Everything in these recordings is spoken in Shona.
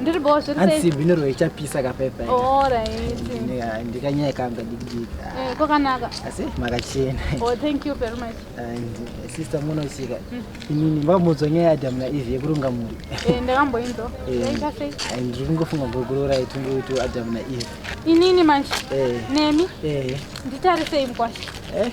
ndiri bho zviri sei hanzi bino ro ichapisa ka pepa oh right ndika ndika nyaya kanga dikidika eh kokanaka asi makachena oh thank you very much and eh, sister muno sika mm. inini mbamudzo nyaya ya damna ivi yekurunga muri eh ndakambo inzo eh ita sei and ndiri kungofunga gogoro ra itungu kuti adam na ivi inini manje eh nemi eh nditarisei mkwasha eh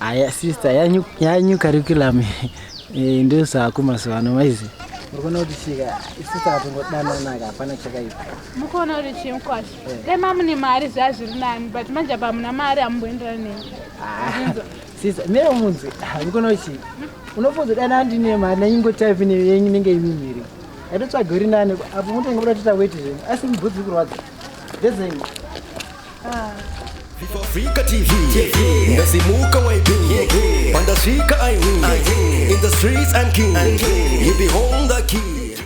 Aya sister yanyu yanyu curriculum eh, ndio saa kuma sivano maizi. Mukona kuti chika sister atongo dana naka hapana chakaipa. Mukona kuti chimkwashi. Eh. Dai mamu ne mari zvazviri nani but manje apa muna mari amboendera neni. Ah, sister mimi munzi ah, mukona kuti hmm? unofunza dana andi ne mari na ingo type ne yenyu nenge imi miri. Edo tsvaga uri nani apo mutongo kuti taweti zvenyu asi mbudzi kurwadza. Dezenyi. Africa TV, ndasimuka YB, pandasvika I win, in the streets I'm king, you behold the key.